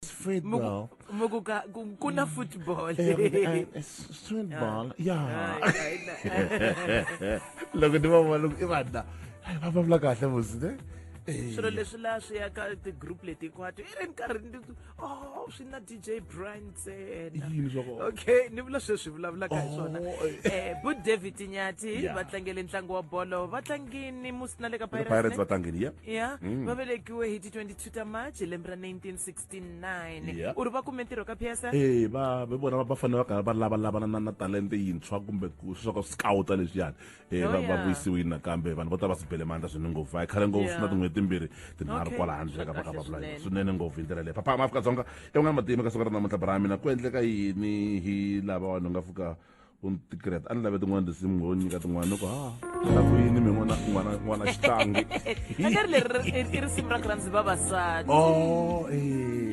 football. Mukuka kuna mm. football. Eh, eh, football. Ah. Yeah. Loko ni va vona i vanhu la va vulavula kahle musi ne. Eh. swilo leswi laha swi ya ka ti-group leti hinkwato i ri nkarhi ni oh swi na dj brian ntsena okay ni vula sweswi vulavulaka hi swona oh, eh bu david nyati va tlangele ntlangu wa bolo va tlangini musi na le ka pirates va tlangini ya ya mm. va velekiwe hi ti 20 2 ta march lembe ra 1969 Yeah. u ri va kume ntirho ka psa Eh, va va- vona va fanele va karhi va lavalavana na na talente yintshwa kumbe ku swa ku scouta leswiyani Eh, Oh, va va yeah. vuyisiwile nakambe vanhu vo tala va swi bele mandla swinene ngopfu va yi khale ngopfu Yeah. na tin'hweti timbirhi tinharhu Okay. kwala handle ka va ka Kahle va vula swinene. swinene ngopfu hi ndlela leyi papa ma afrika dzonga evan'wana matima ka siku ra namuntlha bra mina ku endleka yini hi lava vanhu nga fika ku tikreta a ni lave tin'wana tinsimu ngo nyika tin'wana ni ku ha la ku yini mi n'wana n'wana n'wana xitlangi akari leri i risimu ra ku rhandzi vavasati o oh, e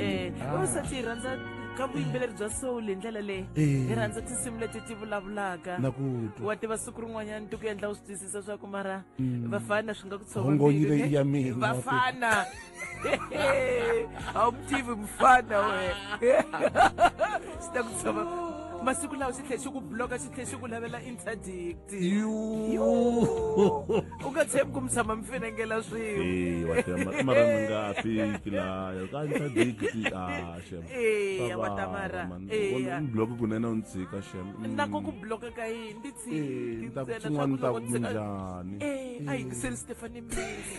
eh, ah. vavasati hi rhandza ka vuyimbeleri bya soul hi ndlela leyi hi rhandza tinsimu leti ti vulavulaka wa tiva siku rin'wanyana ti ku endla u swi twisisa swa ku mara mm. vafana swi nga ku tshovavafana awumtivi mfana we sitakutshova masiku lawa swi tlhe swi ku bloka swi tlhe swi ku lavela interdict u nga tshembi ku mi tshama mi finengela swin'wemaraningaafiki laya ka interdict ashem eya watamara bloke kunene u ni tshika shem na ko ku bloka ka yini ndi tshiki ntsena swa ku loko njhani a yingiseli stefani mbizi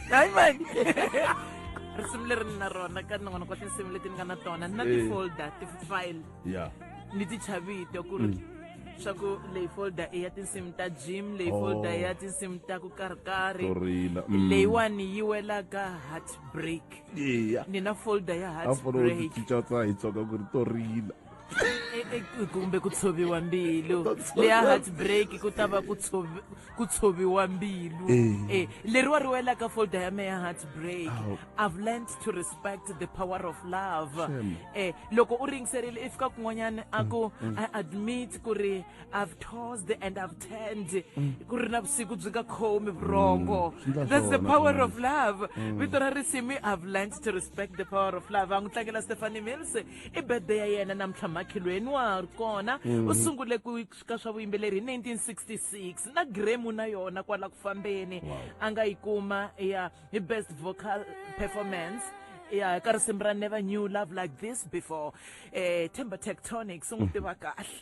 hayi mani risimu leri ni na rona ka nin'wana kwa tinsimu leti ni nga na tona ni na Eh. ti-folder ti-file ya ni ti chavito ku ri swa ku leyi folder i ya tinsimu ta gym leyi Oh. folder i ya tinsimu ta ku karhikarhi to rila Mm. leyiwani yi wela ka heartbreak iya ni na folder ya a fona u heartbreak tichicha tsa hi tsoka ku ri to rila kumbe ku tshoviwa mbilu leya heartbreak ku ta va ku tshoviwa mbilu e leriwa ri wela ka folder ya me ya heartbreak i've learned to respect the power of love e loko u ringiserile i fika kun'wanyana a ku i admit ku ri i've tossed and i've turned ku ri na vusiku byi nga khomi vurhongo that's the power of love vito ra risimi i've learned to respect the power of love a n'wi tlangela stephanie mills i birthday ya yena namuntlha makhelweni wa ha ri kona u sungule ku ka swa vuyimbeleri hi 1966 na gremu na yona kwala ku fambeni a nga yi kuma ya hi best vocal performance ya ka risimu ra never knew love like this before eh themba tectonics u n'wi tiva kahle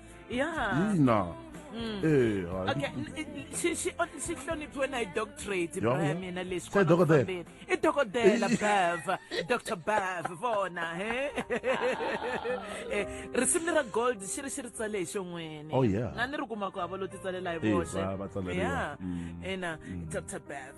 ya yina Mm. Eh, okay xi xi xi hloniphiwe na hi doctorate bro ya mina lexi se dokodela i dokodela bev dr bev vona he eh, risimu leri ra gold xi ri xi ri tsale hi xon'wini oh, na ni ri kumaka hava lo titsalela hi voxe ya mm. ina mm. dr bev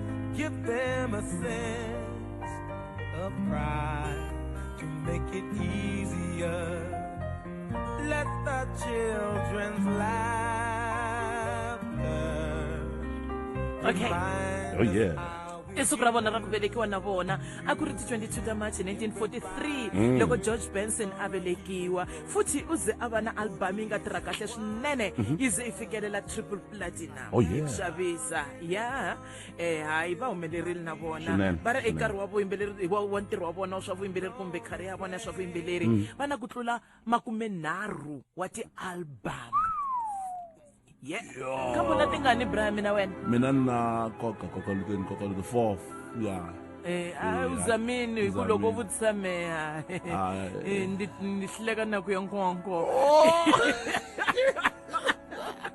Give them a sense of pride to make it easier. Let the children's laughter. Okay. Oh yeah. i siku ra vona ra ku velekiwa na vona a ku ri ti 22 ta march 1943 mm. loko george benson a velekiwa futhi u ze a va na albhamu yi nga tirha kahle swinene mhm. yi ze yi fikelela triple platinum Oh, yeah. ku xavisa ya eh hayi va humelerile na vona Swinene, va ri swinene. ekarhi wa vuyimbeleri wa wa ntirho wa vona wa swa vuyimbeleri kumbe khari ya vona ya swa vuyimbeleri Mm. va na ku tlula makumenharhu wa ti-album ye ka vona ti nga ni bra ya mina wena mina ni na koka koka lukeni koka luke four ya Eh, a u zamini hi ku loko u vutisa meya Ah, eh. ni hleka na ku ya nkonko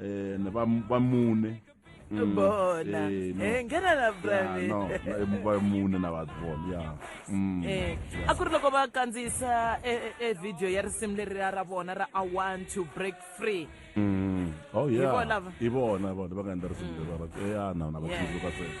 eh ne ba ba mune Mm, bona eh, no. Eh, nghena la Yeah, brave no, no, ba mune na batho bona ya Mm. Eh, a ku ri loko va kandziyisa e- e e video ya risimu leriya ra vona ra i want to break free Mm. oh yeah Hi vona va- i vona vona va nga endla risimu leri va ra- eh, ya na na va Yeah. tsundzuka sweswo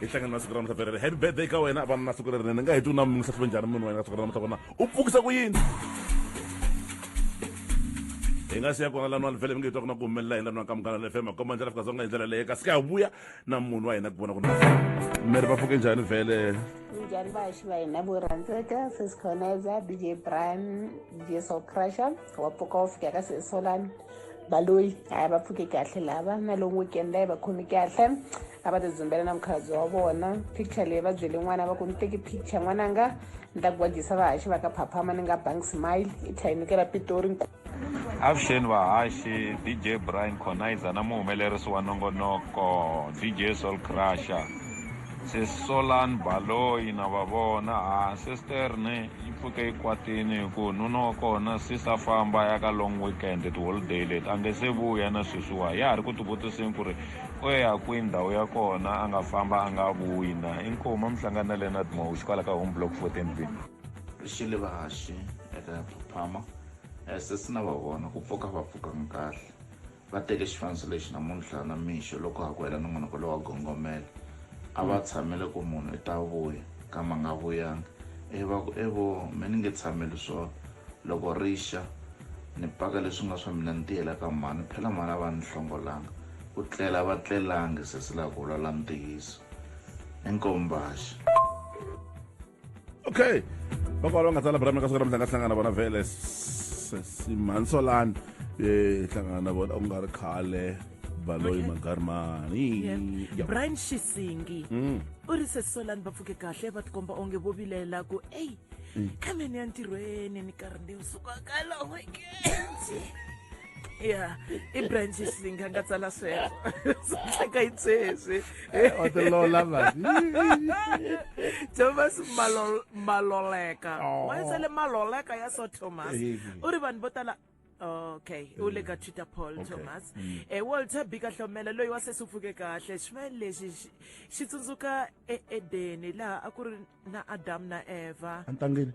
hi hlangana na siku ra namuntlha perere happy birthday ka wena vana na siku lerinene ni nga heti u na munhu hlahluve njhani munhu wena ka siku ra namuntlha kona u pfukisa ku yini hi nga siya kona lanwani vhele mi nge twa ku na ku humelela hi lanwani ka munghana le fm komba njhana fika zonga hi ndlela leyi kasi ka hi vuya na munhu wa hina ku vona ku miri va pfuke njhani vhele njhani vaxi va hina vo rhandzeka sisikhoneza dj brian dj socrusher wa pfuka wo fika ka sesolani baloyi hayi va pfuke kahle lava na lowu weekend layi va khomi kahle a va tidzumbela na mukhalabye wa vona picture leyi va byele n'wana va ku ni teki picture n'wananga ni ta gwajisa vahaxi va ka phaphama ni nga bank smile i tlhayinikela pitori avuxeni vahaxi dj brian conizer na muhumelerisi wa nongonoko dj sol crusher se solan baloyi na va vona ha sisterne yi pfuke yi kwatini hi ku nuna wa kona sisa famba ya ka long weekend tiholiday leti a nge se vuya na sweswiwa ya ha ri ku tivutiseni ku ri u ya kwihi ndhawu ya kona a nga famba a nga vuyi na inkomu a mi hlangani na leonard mawuxi kwala ka home block fourteen b xilivaxi eka phaphama eh, sesi na va vona ku pfuka va pfukanga kahle va teke xifaniso lexi namuntlha na mixo loko ha ku hela nongonoko lowa gongomela a va tshamele ku munhu i ta vuya kama nga vuyanga e va ku evo mi ni nge tshameli swona Loko ri xa, ni paka leswi nga swa mina ni tiyela ka mhani, phela mhani a va ni hlongolanga. Ku tlela a va tlelangi, sesi la ku vulavula ntiyiso. I nkombaxi. Okay. Vakolo va nga tsala brame ka siku ra mhlanga hlangana vona vele sesi mhani Solani eh hlangana na vona u nga ri khale baloyi magarimani Yeah. brian xisingi u ri sesolani va pfuke kahle va tikomba onge vo vilela ku eyi mm. kambe ni ya ntirhweni ni karhi ni suka ka long weekends ya i branches yi nga nga tsala sweswo swi tlhaka yi tseswi eh, o tilola mani thomas maloleka wa yi tsale maloleka ya so thomas u ri vanhu vo tala okay u le ka twitter paul okay. thomas mm. e walter bika hlomela loyi wa sesi u pfuke kahle ximayini lexi xi tsundzuka eedeni laha a ku ri na adamu na eva entangeni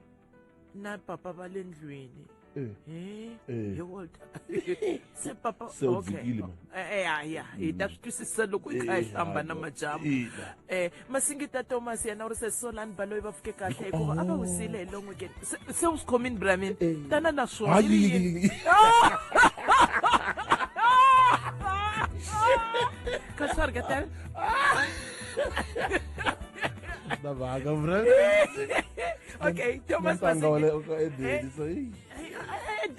na papa va le ndlwini eh. Eh, eh. he walter se papa okay ya ya hi ta swi twisisa loko hi kha hi hlamba na majamu masingita thomas yena u ri se solani va loyi va fike kahle hikuva a va wisile hi long weekend se se u swi khomini bramin Eh. tana na swona Hayi, yi ri yini? yi- ka swi ri katani na vaka bra okay thomas ntanga wa le Masingita- ka edeni so yi- Eh,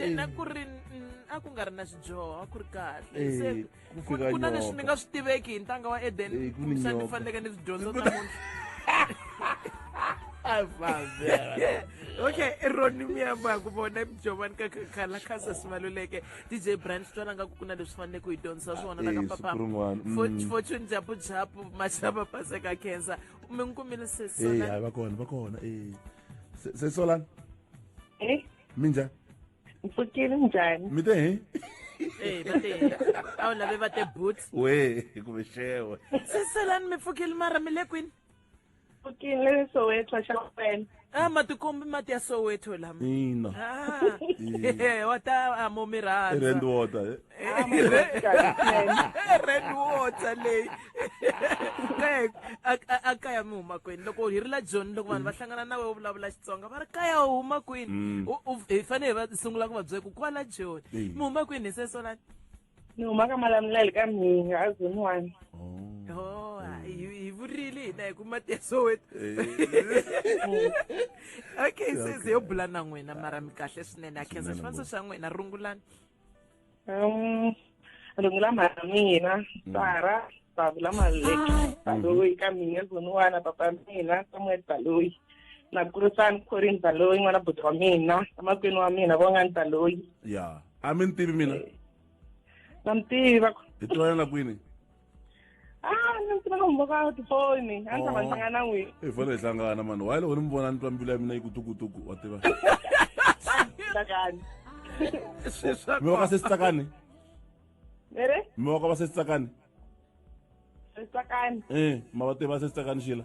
eh, eh, na ku ri mm, a ku nga ri na xidyoho a ku ri kahle Eh. se ku futhi fika ku na leswi ni nyoka nga swi tiveki hi ntanga wa eden Eh, ku ni kumbexana ni nyoka. faneleke ni swi dyondza namuntlha okay roni miyamba ku vona jovani ka khala khasa sivaluleke dj brand twala nga ku ku na leswi faneleke ku hi dyondzisa swona na Eh, ka siku rin'wana, mm. papa fortune japu japu machava paseka cancer mi n'wi kumile Eh, hayi sesona va kona va kona eh. Se- sesolani Eh, mi njhani mpfukile njhani mi te hi ee va te a wu lave va te boots we kumbe xewe seselani mi pfukile mara mi le kwini pfukile le soweto xa wena a ah, matikombi mati ya soweto lama ina ah, wa ta amo mi rhandza rand water eh. red water leyi a kaya mi huma kwini loko hi ri la joni loko vanhu va hlangana na wehe u vulavula xitsonga va ri kaya u huma kwini mm. hi fanele hi va sungula ku va byela ku kwala joni mi huma kwini hi sesolani ni huma ka malamulele ka mhinga a zoni one oh, hi vurile hina hi ku mati ya soweto okay sesi yo bula na n'wina mara mi kahle swinene a khensa xifaniso xa n'wina rungulani Um, runghi la mhana mina mm. sara babu la maleki ah. baloyi ka mina zoniwana papa mina samuel baloyi na kurisani corin baloyi n'wana buti wa mina amakwini wa mina vongani baloyi ya a mi ni tivi mina eh. na mi tiva hi tivana na kwini Ah, ni tiva ka n'wi voka tifoni a ni ta va ni hlangana n'wi i foni hi hlangana mani wayi loko ni mi vona ni twa mbilu ya mina yi ku tukutuku wa tiva tsakani mi voka se sitsakani ere mi voka va se sitsakani tsakani e ma va tiva se sitsakani xila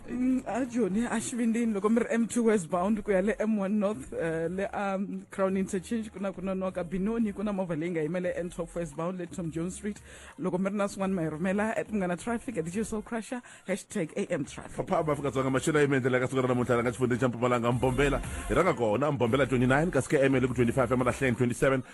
Mm, a joni a xivindini loko mi ri m2 westbound ku ya le m1 north uh, le a um, crown interchange ku na ku nonoka binoni ku na movha leyi nga yimele n12 westbound le tom jones street loko mi ri na swin'wana ma hi rhumela at munghana traffic at dj soul crusher hashtag am traffic phaphama afrika-dzonga maxelo ya yimendlela ka siku ra namuntlha la nga xifundzeni xa mpumalanga mbombela hi rhanga kona mbombela 29 kasi km le ku 25 emalahleni 27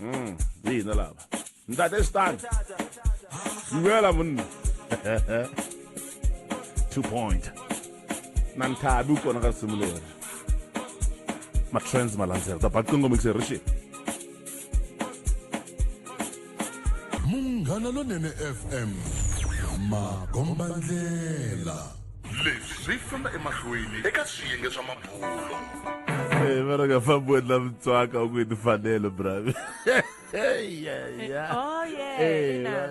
Mm, yini lava ntate stan dumela monna two point na ni thabi u kona ka risimu leri matrans malandzela ta baqingo mixerishi munghana lonene fm makombandlela leswi swi famba emahlweni eka swiyenge swa mabulo Eh, vana nga fambi wena mutswaka u ku yi timfanelo bravi Oh, yeah, ina.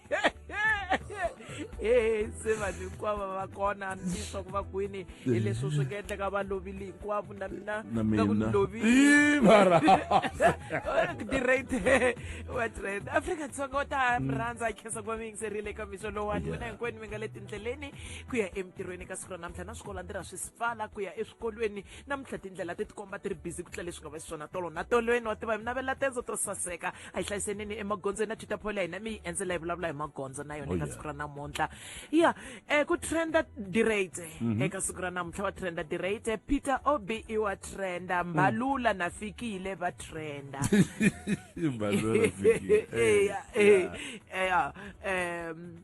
e se vanhu hinkwavo va kona hambileswaku va kwini hi leswi swi nga endleka va lovile hinkwavo na mina ka ku ni loviledirate watrend afrika dzonga u ta mi rhandza a khensa ku va mi yingiserile eka mixo lowani wena hinkwenu mi nga le tindleleni ku ya emintirhweni ka siku ra namuntlha na swikolo a ndzi ra swi sipfala ku ya eswikolweni namuntlha tindlela ti tikomba ti ri busy ku tlula leswi nga va xiswona tolo na tolweni wa tiva hi minavela tendzo to saseka a yi hlayisenini emagondzweni na twitter ya hina mi yi endzela yi vulavula hi magondzo na yona oh, eka siku ra namuntlha ya um ku trenda dirate mhm. eka siku ra namuntlha va trenda dirate peter ob i wa trenda mm. mbalula na fikile va trenda eya eya um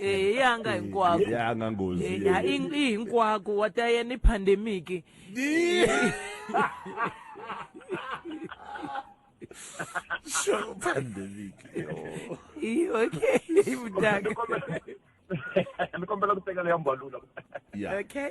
Eh, ya nga hinkwako ya nga ngozi Eh, ya i i hinkwako wa ta ya ni pandemic Sure, pandemic. Yo. I- okay Ni mdaka kombela- ni kombela ku tekela ya mbalula Yeah. okay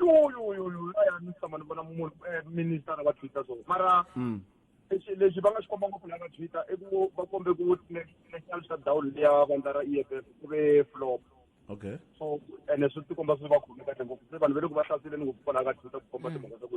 yoyoyoyo a ya ni tshama ni vona munhu eh, minister va twitter so mara mm. lexi lexi va nga xi komba ngopfu la va twitter i ku va kombe ku national shutdown leya vandla ra e f f ku ve flop okay so ene swi tikomba swi va khome kahle ngopfu se vanhu va le ku va hlasele ni ngopfu kwalaha ka twitter ku komba mm. timhaka ta ku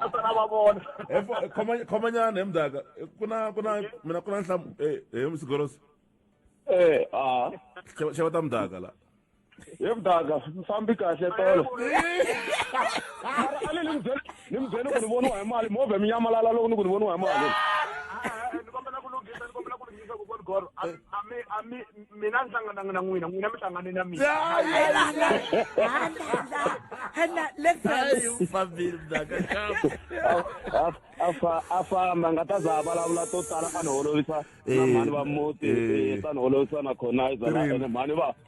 naswona va vona Eh, fo- eh, khoma- khomanyana he mdaka Eh, ku na ku na mina ku na nhlamu eh, he msigorosi Eh, ah. Xava- xava ta mdaka la Hi mdaka, mfambi kahle tolo. Ale ni mbyela, ni mbyela ku ni voniwa hi mali, movha mi nyamalala loko ni ku ni voniwa hi mali. Tiva ku kwani goro a a mi a mi mina ni hlangananga na n'wina n'wina mi hlangane na mina Hana, listen. Ai, família da cachapa. A- a fa- a famba nga ta za a vulavula to tala a ni holovisa na Eh, mhani va muti eh. eh, ta ni holovisa na khonaiza na Three. ene mhani va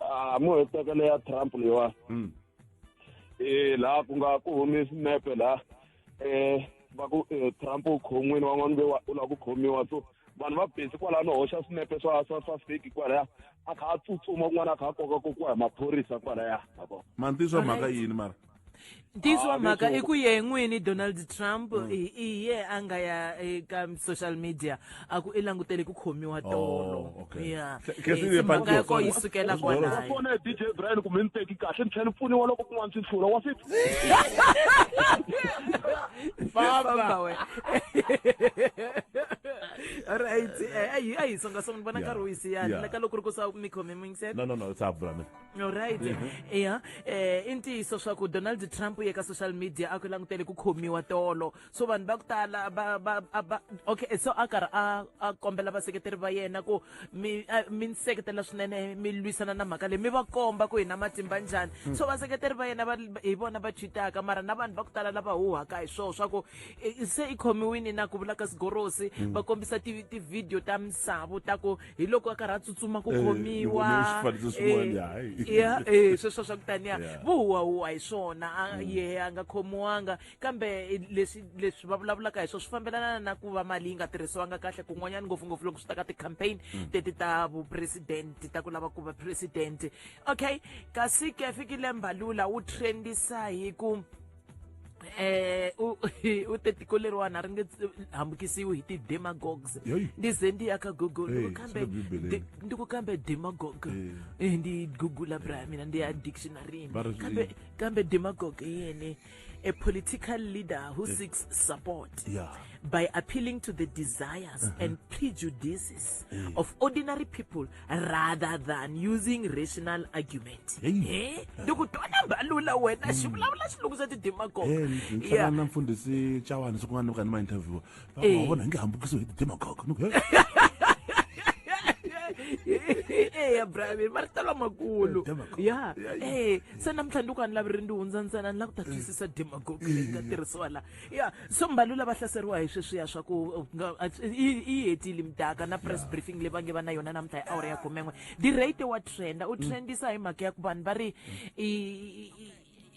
a mo hetekele ya trump leyiwani Mm. eh la ku nga ku humi sinepe la eh va ku eh, trump u khon'wini wan'wana ve wa- u lava ku khomiwa so vanhu va besi kwalaya no hoxa sinepe swa swa swa feki kwalaya a kha a tsutsuma kun'wana a kha a koka kokiwa hi maphorisa kwalaya ma vona mantiso mhaka yini mara ntiyiso wa mhaka i ku ye n'wini donald trump mm. hi ye a nga ya eka social media a ku i langutele ku khomiwa oh, tolo ya eh, mhaka ya ko yi sukela kwalayo dj brian kumbe ni teki kahle ni tlhela ni pfuniwa loko kun'wana swi hlula wa swi famba we right eh, a hi songasonga ni vona nkarhi wu yisiyani leka loko ri ku sa mi khome mi ngisela no no no sa bula mina Alright. Yeah. Eh i ntiyiso swa ku Donald Trump ye ka social media a ku langutele ku khomiwa tolo. So vanhu va ku tala ba ba a ba okay so a karhi a a kombela vaseketeri va yena ku mi a- mi ni seketela swinene mi lwisana na mhaka leyi mi va komba ku hi na matimba njhani. So vaseketeri va yena va hi vona va cheataka mara na vanhu va ku tala lava huhaka hi swona swa ku eh, se i khomiwini na ku vula ka sigorosi va kombisa ti ti video ta misavo ta ku hi loko a karhi a tsutsuma ku khomiwa sweswo swa ku taniya vuhuwahuwa hi swona mm. yehe a nga khomiwanga kambe leswi leswi va vulavulaka hi swona swi fambelana na ku va mali yi nga tirhisiwanga kahle kun'wanyana ngopfungopfu loko swi ta ka ti-campaign mm. teti ta vupresidente ta ku lava ku va presidente okay kasi ke fikile mbalula wu trendisa hi ku eh u u tetiko leriwani a ri nge hambukisiwi hi ti-demagogues ndi ze ndi ya ka google eh, kambe ndi ku kambe demagogue eh. Eh, ndi google bra ya mina ndi ya dictionaryni kambe kambe demagogue i yini a political leader who seeks support by appealing to the desires uh-huh. and prejudices of ordinary people rather than using rational argument eh loko twana mbalula wena hmm. xivulavula xilungu xa ti-demagogue eh, na mfundhisi chawana siku nga ni ka ni ma interviewa va eh. vona hi nge hambukiso hi ti-demagogue eya bravi marito lamakulu ya e se namintlha ndi ku a ni lavi ri ndi hundza ntsena ni lava ku ta twisisa demagogue leyi nga tirhisiwa laha ya so mbalula va hlaseriwa hi sweswiya swa ku uh, yi hetile mdaka na press briefing leyi va nge va na yona namuntlha hi awara ya khumen'we dirate wa trenda u mm. trendisa hi mhaka ya ku vanhu va ri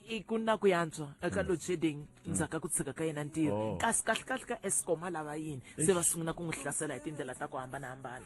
i ku na ku yantswa eka mm. load shedding mm. ndzhaku ka ku tshika ka yena ntirho oh. kasi kahlekahle ka escom a lava yini se va sungula ku n'wi hlasela hi tindlela ta ku hambanahambana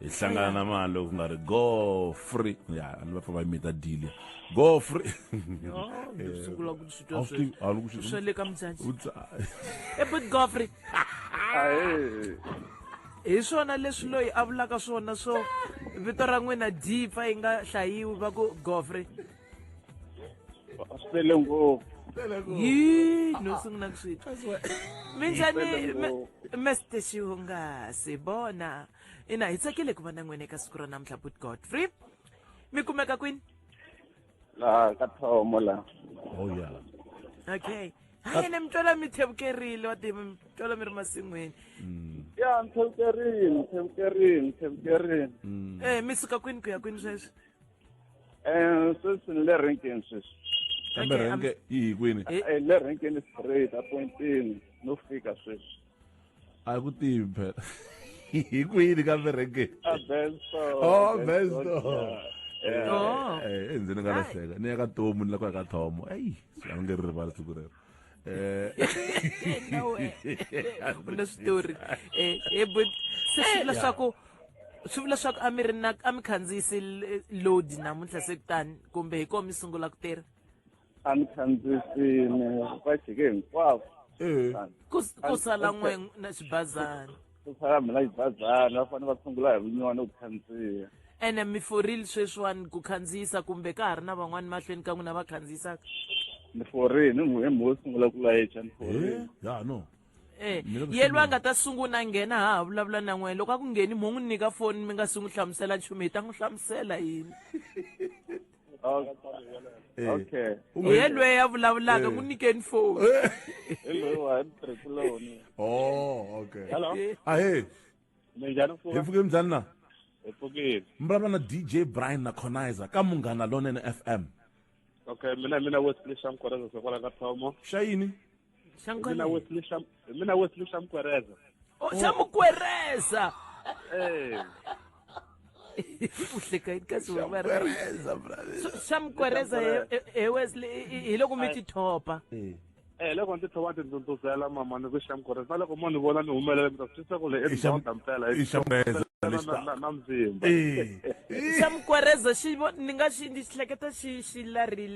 hi hlangana na mali ku nga ri go free ya a ni va fa va mita deal go free sungula ku swi twa swi a ni ku swi swa le ka mdzanzi e but go free hi swona leswi loyi a vulaka swona swo vito ra n'wina dipa yi nga hlayiwi va ku gofre sele ngopfu yi no sungula ku swi minjhani mester xihungasi bona ina hi tsakile ku va na n'wina eka siku ra namuntlha but godfrey mi kumeka kwini laha ka thomo la oh ya okay ha yena mi twela mi thevukerile wa tiva mi twela mi ri masin'wini mm. ya mi thevukerile mi thevukerile mi thevukerile mm. eh mi suka kwini ku ya kwini sweswi um sweswi ni le renkeni sweswi kambe renke yi hi kwini eh, le renkeni straight apointini no fika sweswi a ku tivi phela hi kwini ka verekeni a benso oh benso endzeni nga lahleka ni ya ka tomu ni la ku ya ka thomo eyi swi a ni nge ri rivala siku rero Eh. na switori eh, eh, but se swi vula swaku swi vula swaku a mi ri na a mi khandziyisi load namuntlha se kutani kumbe hi koho mi sungula ku tirha a ni khandzisini va jike hinkwavo Eh. ku ku sala n'we na xibazana ku sala mina xibazana va fanele va sungula hi vunywana ku khandziya ene mi forile sweswiwani ku khandziyisa kumbe ka ha ri na van'wani mahlweni ka n'wina va khandziyisaka ni forile ni n'we mo sungula ku layicha ni forile Eh, ya no Eh, Mina ku yelwa a nga ta sungula a nghena ha ha vulavula na n'wina loko a ku ngheni mo n'wi nyika foni mi nga si n'wi hlamusela nchumu hi ta n'wi hlamusela yini Eh. okay hi yelweyo a vulavulaka Eh. n'wi nyikeni foni hi loyi wa trikuloni oh okay hello ahe minjhani hi fuka pfuke mbyani na hi pfukile mi vulavula na dj brian na conizer ka munghana lonene fm okay mina mina wesley shamkoreza sokwala ka thomo xa yini mina wesley Sham- mina wesley shamkwereza Oh, xamukwereza eh uhleka yini kasi wena Pereza, brother. xamukwereza he- he- he wesley hi- hi- hi loko mi ti thopa Eh. eh loko ndzi thova ndzi ndzudzuzela mama ni ku shamkwereza na loko mo ni vona ni humelela mi ta swi twisisa ku le I sham- endhawunda mpela i xamukwereza lexi na- ta- na- na mzimba Eh. xamukwereza xi vo- ni nga xi ndzi hleketa xi xi larile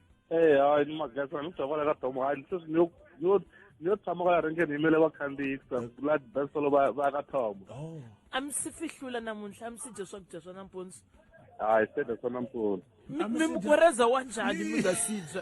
Eh, hayi ni magesana ni tava la ka domo hayi se ni yo ni yo ni yo tshama kwala renkeni yimele vakhandziyi ku la besolo va va ya ka thomo Oh. a mi si fihlula namuntlha a mi si dya swakudya swa nampundzu hayi se de swona mpfuno Mi- A mi mi si dya- mugoreza wa njhani mi nga si dya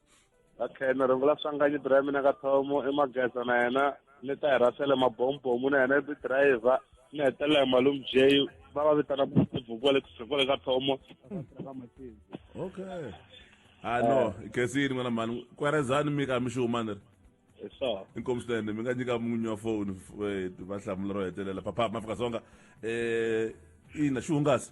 okay ni rungula swanganyi bira ya mina ka thomo i mageza na yena ni ta hirasele mabombomu na yena i driver ni hetelela hi malum j va va vitana bukuvukule kusukule ka thomo okay ha ah, no khesini n'wana mhani kwerezani mi ka mi xi huma ni ri inkomu swinene mi nga nyika munyi wa foni eh, va hlamula ro hetelela papa mafika songa um eh, ina xi hungasi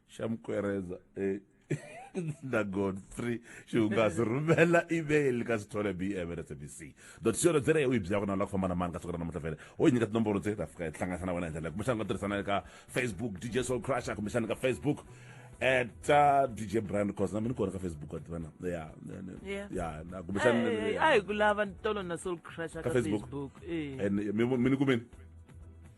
xa mukwereza eh, na godfrey xihungasi rhumela email ka sithole bm at sabc dot co dot za u yi byaka na la ku famba na mani ka siku ra namuntlha fele u yi nyika tinomboro tse ta fika yi hlanganisa na wena hi ndlela leyi kumbexana u nga tirhisana le ka facebook dj soul crusher kumbexana ka facebook at uh, dj brand cos na mi ni kona ka facebook at vana ya Yeah. ya na kumbexana Eh, a hi ku lava tolo na soul crusher Ka ka Facebook. facebook eh. and mi mi ni kumeni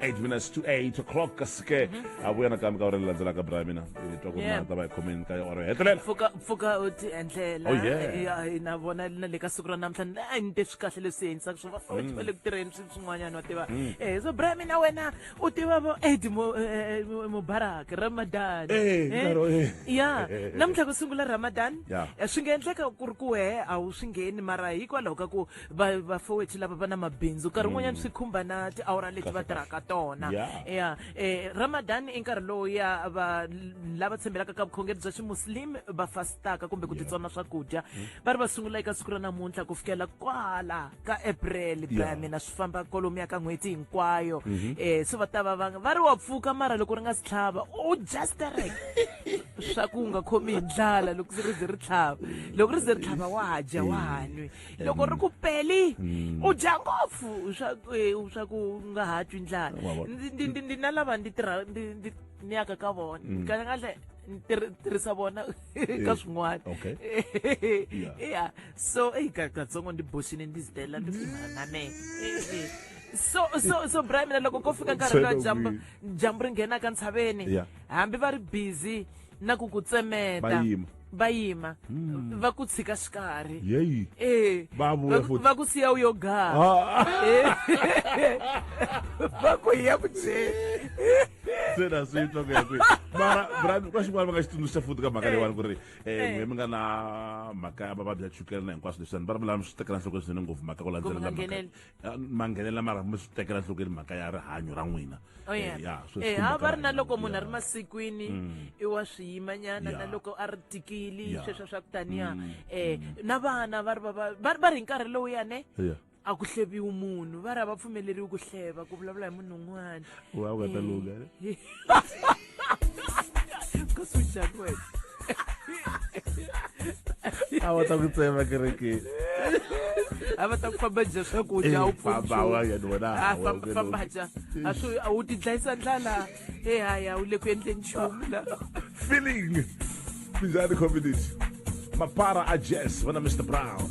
8 minutes to 8 o'clock ka sike a vuya nakambe ka ora ri landzelaka bra mina hi twa ku ri Yeah. na ta va hi khomeni ka ora hetelela pfuka pfuka u ti endlela Oh, yeah. Eh, ya, eh, na vona na le ka siku ra namuntlha ni a ni te swi kahle leswi endlisaka swo vafoti va le ku tirheni swi swin'wanyana wa tiva Eh, so bra mina wena u tiva vo ed Mo- eh, eh, Mo- mubarak ramadan Eh, Eh, nkarhi, eh. ya namuntlha ku sungula ramadan Yeah. Eh, swi nga endleka ku ri ku wehe a wu swi ngheni mara hikwalaho ka ku va vafowethu lava va na mabindzu nkarhi wun'wanyana swi khumba na tiawara leti va tirhaka tona Yeah. ya eh, ramadan i nkarhi lowu ya va lava tshembelaka ka vukhongeri bya ximuslim va fastaka kumbe ku titsona swakudya va ri va sungula eka siku ra namuntlha ku fikela kwala ka april bra Yeah. mina swi famba kolomu ya ka n'hweti hinkwayo eh se va ta va va va ri wa pfuka mara loko ri nga si tlhava u just rek swa ku nga khomi hi ndlala loko se ri ze ri tlhava loko ri ze ri tlhava wa dya wa nwi loko ri ku peli Mm. u dya ngopfu swa eh, swa ku nga ha twi ndlala Wa vona. Ndi- ndi- ndi- ndi na lava ndi tirha ndi- ndi- ni yaka ka vona Mm. kahlekahle ni tirhi- tirhisa vona ka swin'wana okay. Yeah. yeah so eyi ka- katsongo ndi boxini ndi zitela ndi na me so so so bra mina loko ko fika nkarhi lowa Tshwene dyambu kwihi? dyambu ri nghenaka ntshaveni Yeah. hambi va ri busy na ku ku tsemeta va yima va yima hmm. va ku tshika xikarhi yeyi e va vuya futi va ku siya u yo gaha ah. eh. va ku ya ku je se na swi twa ku ya kwihi mara brand ka xin'wana va nga xi tsundzuxa futi ka mhaka eh. leyiwani ku ri um n'we mi nga na mhaka ya vavabyi ya chukela na hinkwaswo leswiani va ri vulami swi tekela nhlokweni swinene ngopfu mhaka ku landzelela mhaka Ah, manghenelela mara mi swi tekela nhlokweni mhaka ya rihanyo ra n'wina oh, eh, ya eh, ha va ri na loko munhu a ri masikwini mm. i wa swiyimanyana na loko a ri tikili sweswo swa ku taniya um mm. eh, mm. na vana va ri va ri hi nkarhi lowu yane a ku hleviwi munhu va ri a va pfumeleriwi ku hleva ku vulavula hi munhu un'wana wa ku ta lunga a va ta ku tsema kerekeni a va ta ku famba dya swakudya a wu pfumfamba dya a swi a wu ti dlayisa ndlala ehaya wu le ku endleni nchumu la feeling minjhani community mapara a jess vana mr brown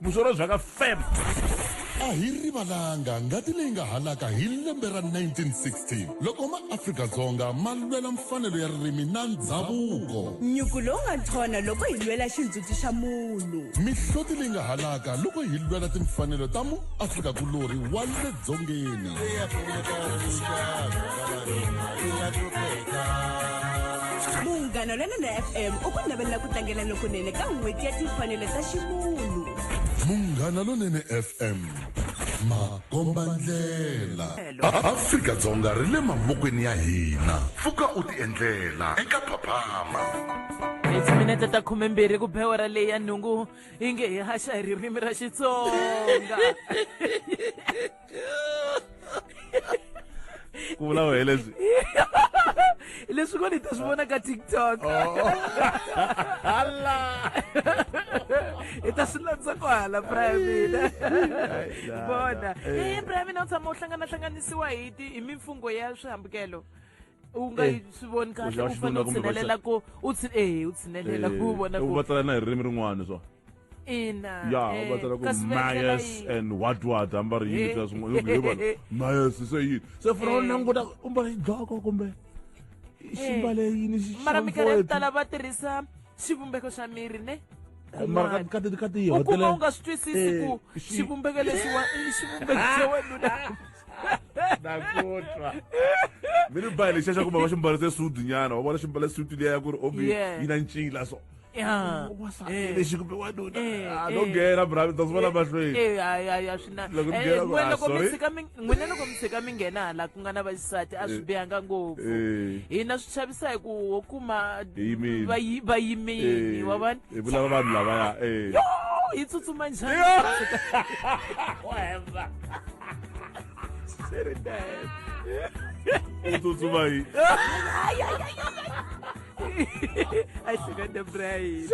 vuzolo bya ka feb a hi rivalanga ngati leyi nga halaka hi lembe ra 1916 loko maafrika-dzonga ma lwela mfanelo ya ririmi na ndhavuko nyuku lowu nga nthona loko hi lwela xindzhuti xa munhu mihloti leyi nga halaka loko hi lwela timfanelo ta muafrika-kulorhi wa le dzongeni munghana lwena na fm u ku navelela ku tlangela lokunene ka n'hweti ya timfanelo ta ximunhu munghana lonene fm makombandlela afrika-dzonga ri le mavokweni ya hina pfuka u tiendlela eka phaphama timinete ta khumembirhi ku bewera leyi ya nhungu hi nge hi haxa hi ririmi ra xitsonga ku vula wehe leswi leswi ko ni ta swi vona ka tiktok oh. hala i ta swi landza ku hala braya mina vona e braya mina u tshama u hlanganahlanganisiwa hi hi mimfungho ya swihambukelo u nga yi swi voni kahle u fanele u tshinelela ku u ehe u tshinelela ku vona ku u va tsala na hi ririmi rin'wana swa ina ya u va tsala ku mayes and what what hamba ri yini swa swin'wana yo vona mayes se yini se funa u languta u mbala xidloko kumbe ximbale yini xi mara minkarhi yo tala va tirhisa xivumbeko xa miri ne mara ka ti ka ti u kuma u nga swi twisisi eh, ku xivumbeko lexiwa i xivumbeko xa wanuna nakutwa mi ni bayi lexiya xa ku mama xi mbarise sudu nyana wa vona xi mbale sudu liya ya ku ri omi yi na ncila so lexi kumbe wanuna no nghena brami ta swi vona mahlweni na Loko mi Eh, byela ku, n'we- "Ah, loko mi sorry." tshika mi- n'wina loko mi tshika mi nghena hala ku nga na vaxisati a swi bihanga ngopfu Eh. hina swi chavisa hi ku wo kuma Yimile. vayi- vayimini wa vanhu hi vulava vanhu lavaya eh. Yo, hi tsutsuma njhani u tsutsuma hi a hleketa brain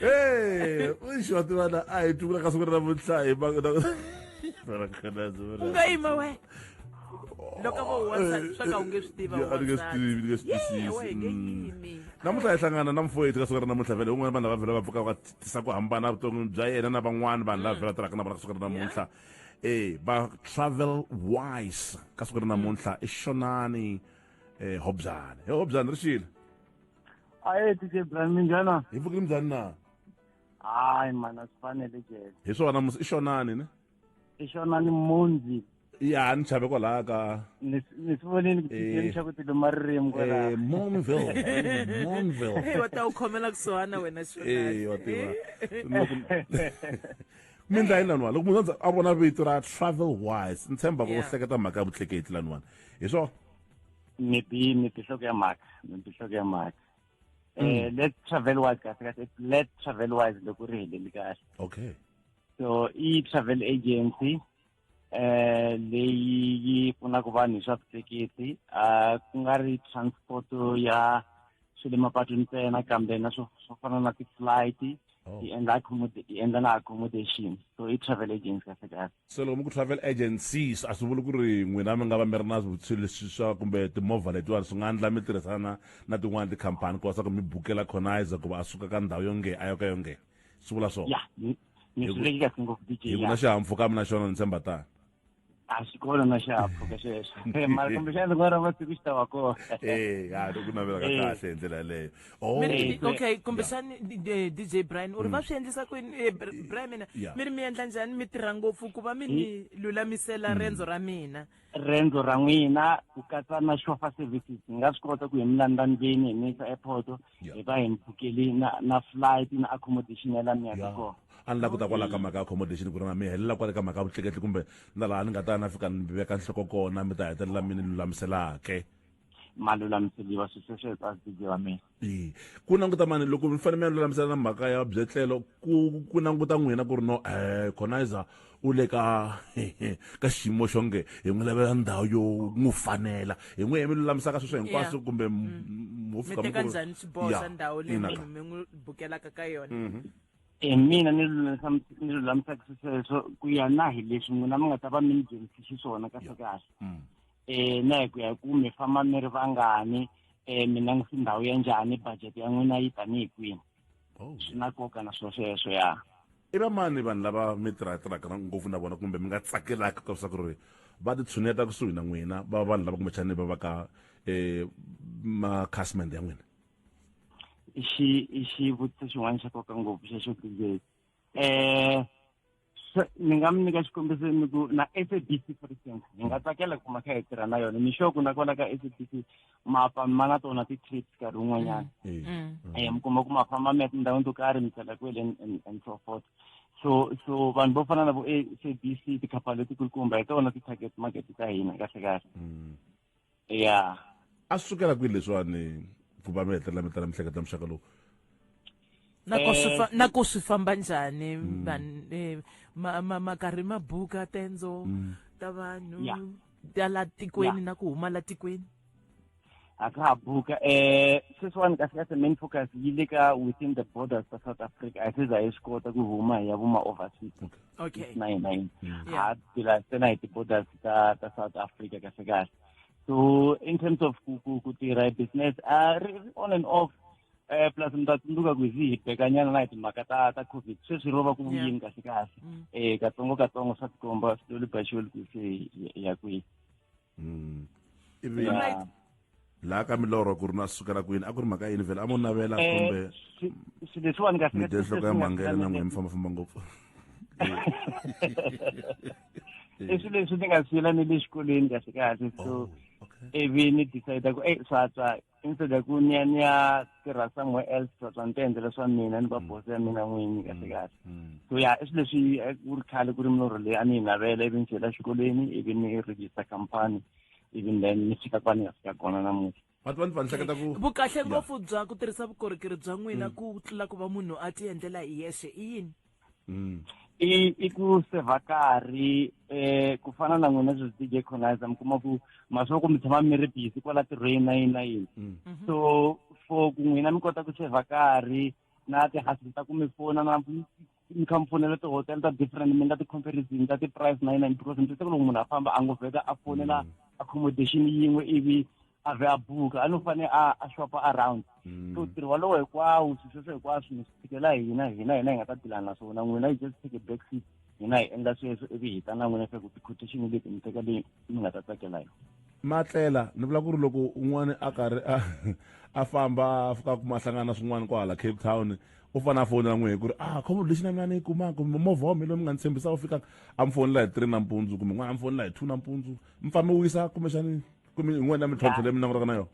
Eh, uixi wa tiva na a hi tukula ka siku ra namuntlha hi maka u nga yima we loko vo wansati swa ka u nge swi tiva a ni nge swi tivi ni nge swi twisisi namuntlha hi hlangana na mfo yetu ka siku ra namuntlha vele un'wana vanhu lava vhela va pfuka va tisa ku hambana vuton'wini bya yena na van'wana vanhu lava vhela tirhaka na vona ka siku ra namuntlha e va travel wise ka siku ra namuntlha i xonani um hobyane e hobyane ri xile aye tj brian minjhana hi mpfuke minjhani na hayi mana swi fanele jele hi swona i xonani ne i xonani monzi ya ni chave kwalaha ka ni swi vonile ku tieni xa ku ti luma ririmi kwalaha eh, monville monville hey wa ta u khomela kusuhana wena xonani eh wa tiva mi ndla yini laniwani loko munhu a vona vito ra travel wise ni tshemba ku u hleketa mhaka ya vutleketli laniwani hi swona ni ti ni ti hloko ya mhaka ni ti hloko ya mhaka eh mm. let travel wise kahle kahle let travel wise loko ri heleli kahle okay so i travel agency eh leyi yi pfunaka vanhu hi swa vutleketli a ku nga ri transport ya swi le mapatwini ntsena kambe na swo swo fana na ti-flight oh. hi endla hi endla na accommodation so i travel agency kahle kahle so loko mi ku travel agencies a swi vuli ku ri n'wina mi nga va mi ri na vutshilo leswi swa kumbe timovha letiwani swi nga endla mi tirhisana na tin'wani tikhampani ku va swa ku mi bukela khonaiza ku va a suka ka ndhawu yonge a yo ka yonge swi vula swona yeah, hi ku na xihahampfhuka mi na xona ni tshemba tani a swi kona na xihahampfhuka xexo mara kumbexana ndzi nga rava siku xi ta va kona e ya loko navela ka eh. kahle hi ndlela yaleyo oh. eh, okay kumbexana eh, dj brian u ri va mm. swi endlisa kwini brian mina mi ri mi endla njhani mi tirha ngopfu ku va mi ni lulamisela mm. rendzo ra mina rendzo ra n'wina ku katsa na shofa services ni nga swi kota ku hi mi landza ndlwini hi mi yisa airport Yeah. hi va hi mi bukeli na na flight na accommodation ya la mi yaka Yeah. kona a ni la ku ta kwala ka mhaka ya accommodation ku ri na mi helela kwale ka mhaka ya vutleketli kumbe na laha ni nga ta ya na fika ni veka nhloko kona mi ta hetelela mi ni lulamiselake ma lulamiseliwa swi sweswo eka sibye wa mina Ee. ku languta mani loko mi fanele mi ya lulamisela na mhaka ya byetlelo ku ku languta n'wina ku ri no um conizer u le ka ka xiyimo xo nge hi n'wi lavela ndhawu yo n'wi fanela hi n'wi hi mi lulamisaka sweswo hinkwaswo kumbe hofika mm. kanjhani xibosa ndhawu leyi munhu mi n'wi bukelaka ka yona mhm. hi e, mina ni ni lulamisaka swesweswo ku ya na hi leswi n'wina mi nga ta va mi ni dyondzisi xiswona kahle kahle um na hi ku ya hi ku mi famba mi ri vangani um mina ndzi ndhawu ya njhani budget ya n'wina yi tanihi kwini oh. swi na nkoka na swo sweswo ya i va mani vanhu lava mi tirhatirhaka ngopfu na vona kumbe mi nga tsakelaka ka leswaku ri va titshuneta kusuhi na n'wina va vanhu lava kumbexani va va ka um makhasimende ya n'wina i xi i xivutiso xin'wana xa nkoka ngopfu xexo tizeki um ni nga mi nyika xikombiso ni ku na sabc for instance hi nga tsakela ku kuma kha hi tirha na yona ni sure ku na kwala ka sabc mapa ma na tona ti-trips nkarhi wun'wanyana um mm. mm. mm. eh, mi kuma ku ma famba mi ya tindhawini to karhi mi tsela kwele and so forth so so vanhu vo fana na vo sabc tikhampani letikulukumba hi tona ti-target market ta hina kahle kahle ya a swi sukela kwihi leswiwani ku va mi hetelela mi tala mihleketa ya muxaka lowu nako swi fa- nako swi famba njhani vanhu eh, ma- ma- makarhi ma buka tendzo ta vanhu Yeah. ta la tikweni na ku huma la tikweni a ka ha buka um sweswiwani kahlekahle main focus yi le ka within the borders ta south africa a se za hi swi kota ku huma hi ya vuma overseas okay okay. 1999 yeah. Hmm. ha sila sena itipoda ta ta South Africa kahle kahle so in terms of kutira business uh, on and off eh plus ndatsundzuka ku hi hibekanyana na hi timhaka ta ta covid sweswi ro va ku vuyini kahle kahle um katsongo katsongo swa tikomba swi lolibaxiweli ku se ya kwihi mm. ivi laha ka milorho ku ri na sukela kwini a ku ri mhaka yini vhele a mo navela eh, kumbe leswiwani kahlemidenhloko ya mhangela na n'we mi fambafamba ngopfu i swilo leswi ni nga siyela ni le xikolweni kahle kahle so oh, ivi ni decide ku e swatswa instead ya ku ni ya ni ya tirha somewhere else swa ni ta endlela swa mina ni va mm. boss ya mina n'wini mm. kahle kahle mm. so ya i swilo leswi eh, ku ri khale ku ri milorho leyi a ni yi navela ivi ni chela exikolweni ivi ni register company even then ni fika kwani ni ya fika kona namuntlha vati va ni va ni hleketa ku vukahle ngopfu bya ku tirhisa vukorhokeri bya n'wina ku tlula ku va munhu a ti endlela hi yexe i yini mm. i i ku seva karhi eh ku fana na n'wina sweswi DJ Conizer mi kuma ku masoko mi tshama mi ri busy kwala tirhweni na yini na yini mm. mhm. so for ku n'wina mi kota ku seva karhi na tihasini ta ku mi fona na mi kha mi fonela tihotel ta different mi nga ti-comparison ta ti-price na yini na yini because mi twiseka loko munhu a famba a ngo vheta a fonela mm. accommodation yin'we ivi a vhe a buka a no fane a a shopa around mm. so ntirho walowo hinkwawo swilo sweswo hinkwaswo mi swi tshikela hina hina hina hi nga ta dilana na swona n'wina yi just take a back seat hina hi endla sweswo ivi hi ta na n'wina swa ku ti-quotation leti mi teka leyi mi nga ta tsakela yona matlela ni vula ku ri loko un'wana a karhi a a famba a fika kuma hlangana swin'wana kwahala cape town u fane a fonela n'we hi ku ri ah khombo lexi na mina ni yi kumaka kumbe movha wa mina loyi mi nga ni tshembisa wu fikaka a mi fonela hi three nampundzu kumbe n'wana a mi fonela hi two nampundzu mi fambe wisa kumbexani ku yin'wana ya mintlhontlho leyi mi langutanaka na yona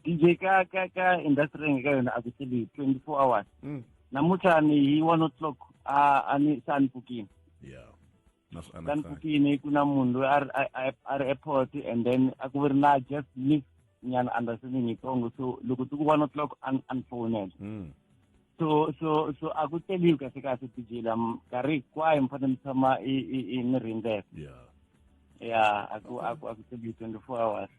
dj ka ka ka industry yenge ka yona a ku seli twenty four hours mm. namuntlha ni hi one o'clock a a ni se a ni pfukini ka ni pfukini ku na munhu loyi a ri airport and then a ku ri na just miss nyana understanding yitsongo so loko ti ku one o'clock a ni fowunela mm. so so so a ku teliwi kahle kahle tijila nkarhi hinkwayo mi fanele mi tshama mi rindzele ya ya a ku a ku a ku teliwi twenty four hours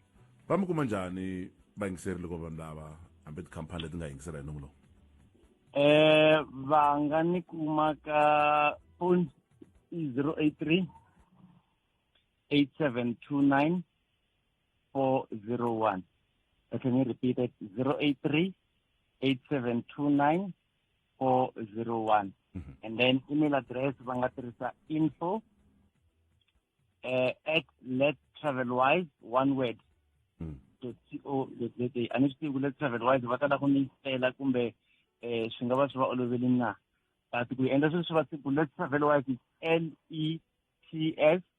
va mi kuma njhani vayingiseri loko vanhu lava hambi tikhampani leti nga yingisela hi nomu lowu eh va nga ni kuma ka phone i zero eight three eight seven two nine 401. I can repeat it 083 8729 401. Mm -hmm. And then email address Vangatrisa info uh, at let travel wise one word. Mm. To co dot za. A ni swi tivi ku let travel wise va ta la ku ni fela kumbe eh swi nga va swi va oloveli na. But ku endla sweswi va siku let travel wise L E T S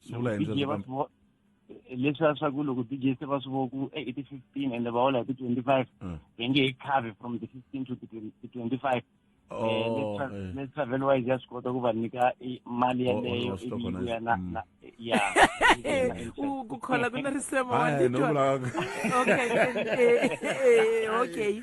swi vula hi ndlela leswiya swa ku loko dj se va swi vo ku e i ti-fifteen ende va hola hi ti-twenty-five mm. va nge hi cover from ti-fifteen to ti-twenty-five Oh, eh. let's have a wise just go to kubanika imali yaleyo ibiya na mm. ya ukukhola kuna risema wanditwa okay eh, eh, okay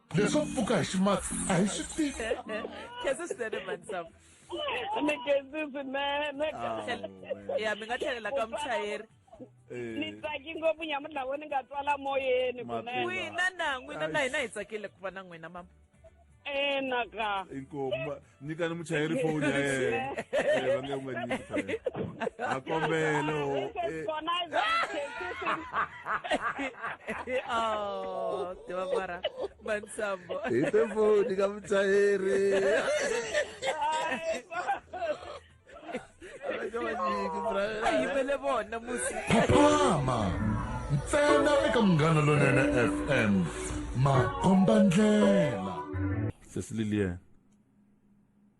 leswo pfuka hi ximatsi a hi swi tivi khensa swinene mhani samu ni khensi swinene ya mi nga tlhelela ka muchayeri Eh. ni tsaki ngopfu nyamuntlha vo ni nga twala moyeni kunenwina na n'wina na hina hi tsakile ku va na n'wina mama enaka eh, inkomu nyikani muchayeri foni ya yena Eh, va nge u nga nyiki phela a kombele o eh, oh tiva mara mansambo hi te foni ka muchayeri a yimele vona musi phapama ntsena eka munghana lonene fm makomba ndlela sesi lilian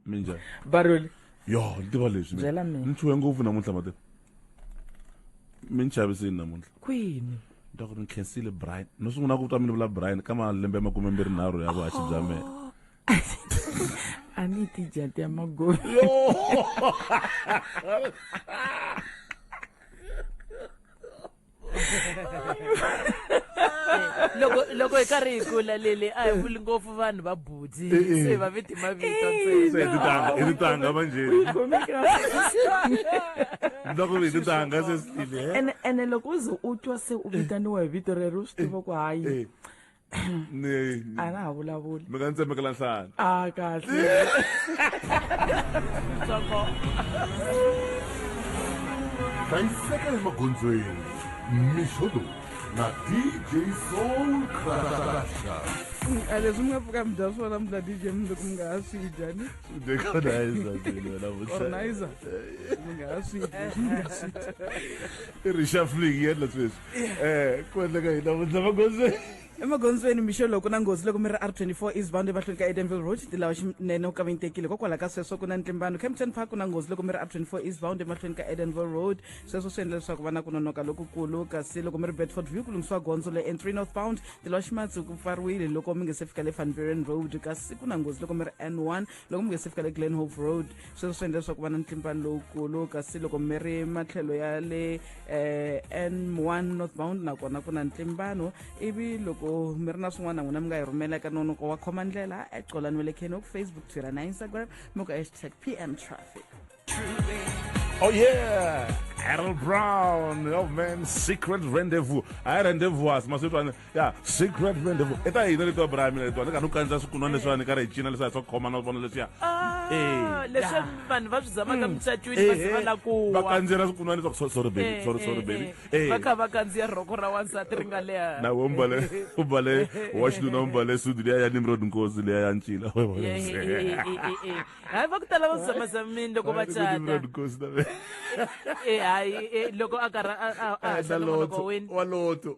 minjhani baroli yo ni tiva leswi Byela mina. ni chuhe ngopfu namuntlha mati mi ni chavisini namuntlha kwini ni twa ku ri ni khensile brian no sungula ku twa mi ni vula brian ka malembe makume mbirhi nharhu ya vuhaxi bya mina ani ti jate ma go loko loko hi karhi hi kula lele a hi vuli ngopfu vanhu va butsi eh, eh. se va viti mavito ntsenatitanga vanjheloko vititanga se sitile eh? ene loko u ze u twa se u vitaniwa hi vito rero u swi tiva ku hayi ni a na ha vulavuli mi nga ni tsemekela nhlana a kahle hlayiseka emagondzweni mixo lowu na dj soul crasha a leswi mi nga pfuka mi dya swona mi dya dj mi loko mi nga ha swi dya ni organizer mi nga ha swi dya i ri shuffling yendla sweswi eh ku endleka yini namuntlha magondzweni emagondzweni mixo loko na nghozi loko mi ri r24 east bound emahlweni ka edenville road tilawa xinene u kavinyitekile kokwalaho ka sweswo ku na ntlimbano campton park ku na nghozi loko mi ri r24 east bound emahlweni ka edenville road sweswo swi endla leswaku va na ku nonoka lokukulu kasi loko mi ri bedford view ku lunghisiwa gondzo le n3 north bound tilawa ximatsi ku pfariwile loko mi nge se fika le fanveren road kasi ku na nghozi loko mi ri n1 loko mi nge se fika le glen hope road sweswo swi endla leswaku va na ntlimbano lowukulu kasi loko mi ri matlhelo ya le eh, n one northbound nakona ku na ntlimbano ivi loko mi ri na swin'wana n'wina mi nga yi rhumela eka nonoko wa khoma ndlela ecolan wa le kenok facebook twitter na instagram mi ku hashtag pm traffic Oh yeah, Harold Brown, oh man, Secret Rendezvous. I rendezvous, maswetwane. ya secret rendezvous i ta hina letiwa brami letiwa ni ka ni kanisa swikunwa leswiwa ni ka ri hi cina leswiya swa khoma na vona leswiya Ah, Eh, leswi yeah. vanhu va swi zama ka mucatwini va se va la ku va wa kandziyela swikunwa leswaku so- sorry baby Eh, sorry eh, sorry eh. baby Eh. va kha va kandziya rhoko ra wansati ri nga leha na we mbale u mbale wa xinuna u mbale sudi liya ya nimrod nkosi liya ya ncila We vona Eh, eh, se. eh, eh, eh, eh. hayi va ku tala va zamazamini loko va Ku cata Nimrod Nkosi na we. Eh, hayi eh, loko a karhi a- a- a Eh, na haxa nongonoko loto, wini wa loto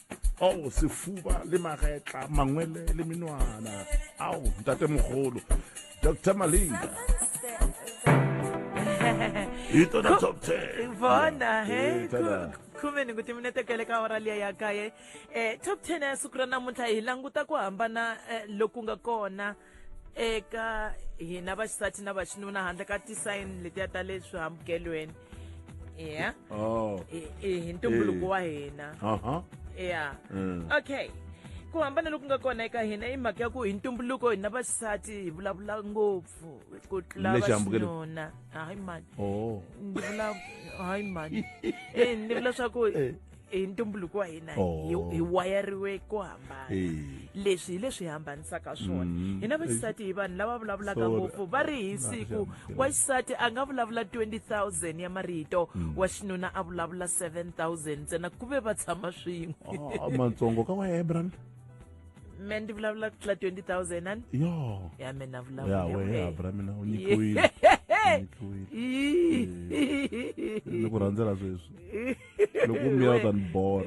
ao sefuba le magetla mangwele le menwana ao ntate mogolo dr malinga hi tona top 10 vona he Eh, tada. khume ni ku timinete kele ka hora liya ya kaye um top ten ya siku ra namuntlha hi languta ku hambana eh, loku nga kona eka hina vaxisati na vaxinuna handle ka tisayini letiya ta le swihambukelweni ya oh. hi ntumbuluko wa hina ya mm. okay ku hambana loku nga kona eka hina i mhaka ya ku hi ntumbuluko hina vaxisati hi vulavula ngopfu ku tlula vaxinuna hayi mani oh. ni vula hayi mani eh, ni vula swa ku eh. hi ntumbuluko wa hina Oh. hi, hi wayariwe ku hambana Eh. leswi hi leswi hi hambanisaka swona Mm. hina vaxisati hi vanhu lava vulavulaka Sorry. ngopfu va ri hi siku Maxana. wa xisati a nga vulavula 20000 ya marito Mm. wa xinuna a vulavula 7000 ntsena ku ve va tshama swin'we Ah, matsongo ka wa ebran me ndi vulavula ku tlula 20000 ani yo ya me na ya vulavula we abra mina u nyikiwile u nyikiwile ni ku rhandzela sweswi loko meal than bor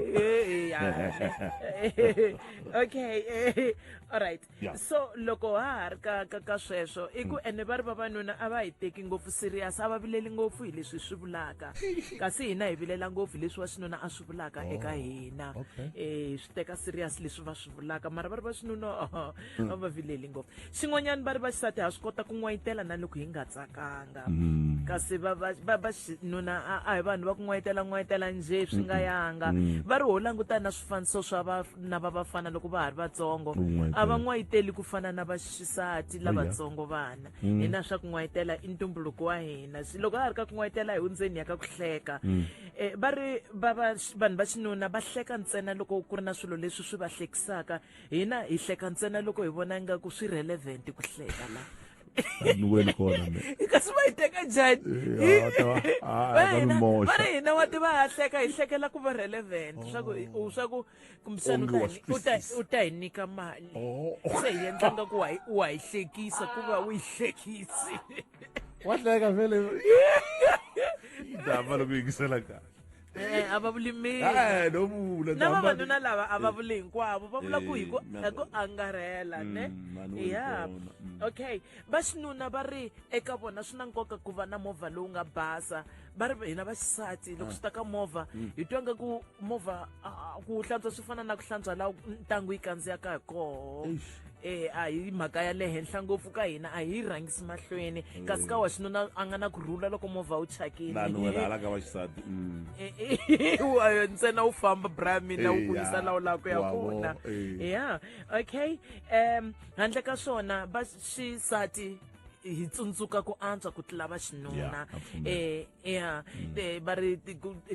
okay eh, all right yeah. so loko ha ha ri ka ka ka sweswo i ku hmm. ene va ri vavanuna a va hi teki ngopfu serious a va vileli ngopfu hi leswi swi vulaka kasi hina hi vilela ngopfu hi leswi wa xinuna a swi vulaka oh, eka hina um swi teka serious leswi va swi vulaka mara va ri va xinuna hmm. a va vileli ngopfu swin'wanyana va ri vaxisati ha swi kota ku n'wayitela na loko hi nga tsakanga mm. kasi vaxinuna a hi vanhu va ku n'wayitela n'wayitela njhe swi nga yanga mm. va ri ho langutana na swifaniso swa vana va vafana loko va ha ri vatsongo a va n'wayiteli ku fana na vaxisati lavatsongo vana mm. hina swa ku n'wayitela i ntumbuluko wa hina loko a ha ri ka ku n'wayitela hi hundzeni ya ka ku hleka um va ri vanhu va xinuna va hleka ntsena loko ku ri na swilo leswi swi va hlekisaka hina hi hleka ntsena loko hi vona ingaku swi relevant ku hleka la niweni kona kasi va yi teka njhani va ri hina wa tiva ha hleka hi hlekela ku va relevant swaku oh. swaku kumbisani u ta hi nyika mali oh. se hi endla nga ku wa hi hlekisa ku va u yi hlekisi wa hleka vele dama loko yingisela kahle Eh, a va vuli mina Eh, no vula na hamba- vavanuna lava a va vuli hinkwavo va vula ku hi ku Eh, na- hi ku angarhela Mm, ne vanhu vo ya vona, mm. okay vaxinuna va ri eka vona swi na nkoka ku va na movha lowu nga basa va ri hina vaxisati loko swi ta ka movha Mm. hi twa nga ku movha ah, ku hlantswa swi fana na ku hlantswa laha ntangu yi kandziyaka hi koho Eish. e a hi mhaka ya le henhla ngopfu ka hina a hi rhangisi mahlweni mm. kasi ka wa xinuna a nga na ku rhula loko movha wu chakinialaka wa xisati mm. e, e, ntsena wu famba bra mina wu kulisa lawu laha ku ya kona ya okay um handle ka swona va xisati hi tsundzuka ku antswa ku tlula va xinuna um ya mm. va ri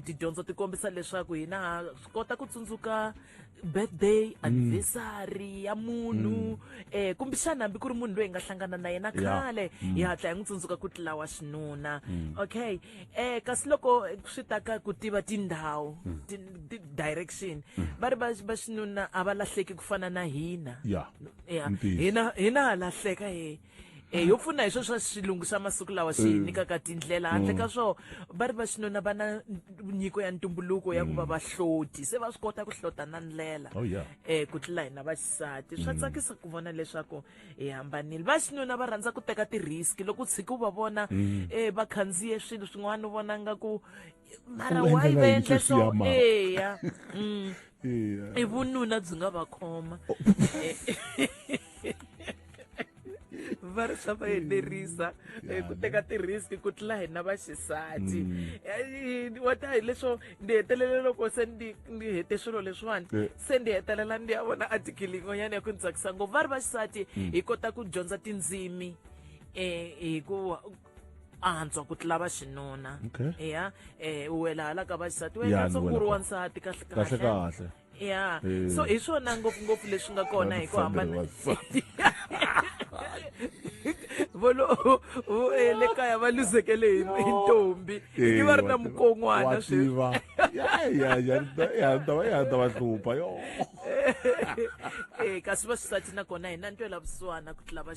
tidyondzo ti kombisa leswaku hina ha swi kota ku tsundzuka um birthday anniversary ya munhu eh kumbe xana hambi ku ri munhu loyi hi nga hlangana na yena khale hi hatla hi n'wi tsundzuka ku tlawa xinuna okay eh kasi loko swi ta ka ku tiva tindhawu ti- ti- direction va ri va va xinuna a va lahleki ku fana na hina ya ya Ntiyiso. hina hina ha lahleka he e yo pfuna hi swo swa xilungu xa masiku lawa xi hi mm. nyikaka tindlela handle ka mm. swo va ri va xinuna va na nyiko ya ntumbuluko ya ku va mm. vahloti se va swi kota ku hlota na ndlela um oh, e, ku tlula hina vaxisati swa tsakisa ku vona leswaku hi hambanile va xinuna va rhandza ku teka ti-risk loko u tshiki u va vona um va khandziye swilo swin'wana u vona nga ku mara why va endla so eya mm. i vununa byi nga va khoma oh. va ri swa va enerisa eh, ku teka ti-risk ku tlula hina vaxisati mm. eh, wa ta hi leswo ndzi hetelela loko se ndi ndi hete swilo leswiwani eh. se ndzi hetelela ndi ya vona atikili yin'wanyana ya ku ni tsakisa ngopfu va ri vaxisati mm. hi kota ku dyondza tindzimi um hi ku antswa ku tlula va xinuna Okay. ya eh u wela hala ka vaxisati Ya, wena ni se wela ku ri ka- wansati kahle kahle kahle ya Eh. so hi swona ngopfungopfu leswi nga kona hi ku hambana Wansati. volo vo- eh, le kaya va luzekele hi hi ntombi i va ri na mukon'wana swi swiva yandava yandava hlupha yo eh kasi vaxisati nakona hi na ntwela vusiwana ku tlula va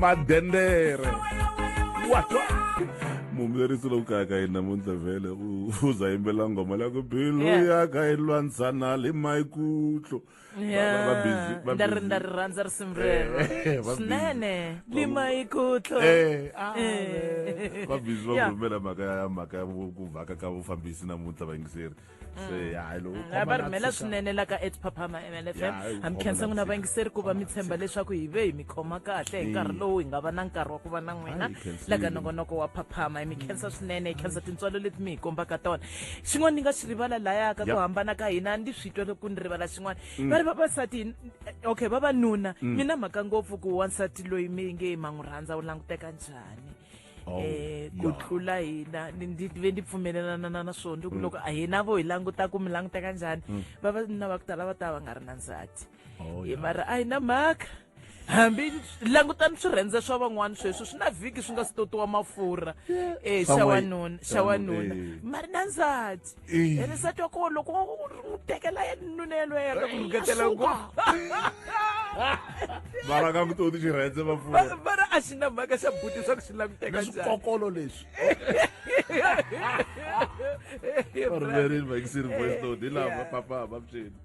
madendere watwa mumlerisi lowu kaya ka yini namuntlha vhele u u za yimbelela nghoma leya ku bilu Yeah. ya ka yi lwantsana le maikutlo Ba- ba- ba busy, ba ndari busy. ndari rhandza risimu rero Eh, va busy. swinene limaikutlo Eh, ah, Eh. va busy va Yeah. ku rhumela mhaka ya mhaka ya vu- ku vhaka ka vufambisi namuntlha vayingiseri se hayi loko u khoma va na rhumela tshika- swinene la ka at phaphama Ya, mlfm hi ha mi khoma khensa na n'wina tshika. vayingiseri ku va mi tshemba leswaku hi ve hi mi khoma kahle hi nkarhi lowu hi nga va na nkarhi wa ku va na n'wina Hayi, hi khensile. la ka nongonoko wa phaphama hi mi khensa swinene hi khensa tintswalo leti mi hi kombaka tona xin'wana ni nga xi rivala laya ka ku Yep. hambana ka hina ndi swi twa loko ni rivala xin'wana va ri vavasati hi- okay vavanuna mi na mhaka ngopfu ku wansati loyi mi nge ma n'wi rhandza u languteka njhani Oh, eh ku yeah. tlula hina ni ndi ve ndi pfumelelana na na swona ku loko a hina vo hi languta ku mi languta ka njhani vavanuna va ku tala va ta va nga ri na ndzati Oh, hi yeah. mara a hi na mhaka hambi langutani swirhendze swa van'wana sweswo swi na vhiki swi nga si totiwa mafurha eh xa Van'wana- wanuna xa van'wana, wanuna eh. mari na ndzati Eh. ene sati wa koho loko u n'wi tekela ya nuna yelweyo ya ku rhuketela ku vara ka kutoti swi rhendze vapfuna vara a xi na mhaka xa buti swa ku swi languteka swikokolo leswi varhumerini vakisini voice note hi lava papa va phyeni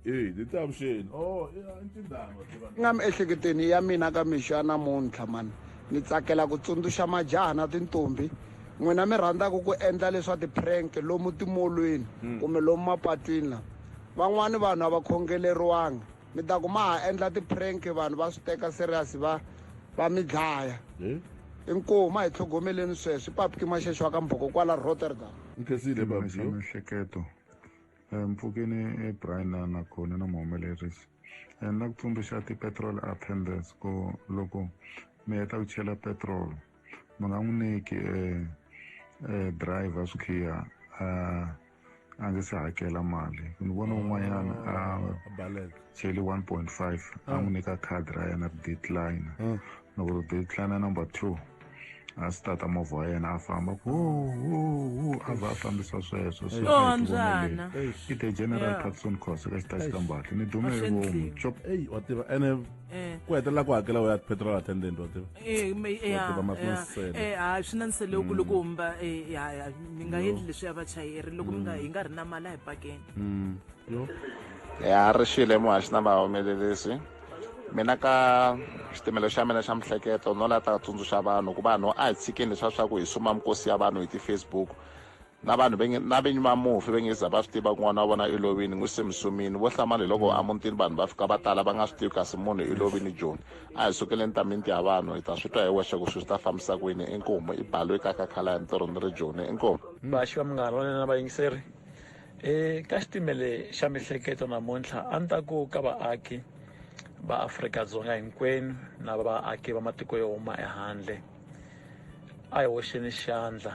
eyi ni ta avuxeni o oh, ntindhama nga miehleketweni ya mina ka mixo ya namuntlha mani ni tsakela ku tsundzuxa majaha na tintombi n'wina mi rhandzaka ku endla leswa ti-prank lomu timolweni hmm. kumbe lomu mapatwini la van'wani vanhu a va khongeleriwanga mi ta ku ma ha endla ti-prank vanhu va swi teka serious va va mi dlaya eh? inkomu ma hi tlhogomeleni sweswi papki maxexo wa ka mbhoko kwala rotterdam miehleketo Eh, mpfukeni eh, brian na na khone na muhumelerisi eh, ni la ku tsundzuxa ti-petrol attendance ku loko mi heta ku chela petrol mi nga n'wi nyiki um driver swikhiya a nge se hakela mali ni vona un'wanyana a cheli 1.5 a n'wi nyika khadi ra yena ri decline loko ri decline number two a swi tata movha wa yena a famba ku a va a fambisa sweswo so a hi tivoneleni i the general patson cos ka xitaxi ka mbati ni dume hi vomu chop eyi wa tiva ene ku hetelela ku hakela u ya petrol attendant wa tiva ha swi na nsele ku loko humba mi nga endli leswi ya vachayeri loko mi nga hi nga ri na mali a hi pakeni ya ri xile muhaxi na vahumelelisi mina ka xitimelo xa mina xa mihleketo no la ta tsundzuxa vanhu ku vanhu a hi tshikeni leswa swa ku hi suma mikosi ya vanhu hi ti-facebook na vanhu na vinyi va mufi ve nge za va swi tiva ku n'wana wa vona i lovini n'wi se mi sumini vo hlamala hi loko amutini vanhu va fika va tala va nga swi tivi kasi munhu i lovini joni a hi sukeleni ta minti ya vanhu hi ta swi twa hi wexe ku swi swi ta fambisa ku yini inkomu i balo yi kakakhala ya ntirho ni ri joni inkomu vaxi va munghana wa nena vayingiseri eka xitimele xa mihleketo namuntlha a ni ta ku ka vaaki va Afrika-Dzonga hinkwenu na vaaki va matiko yo huma ehandle a hi hoxeni xandla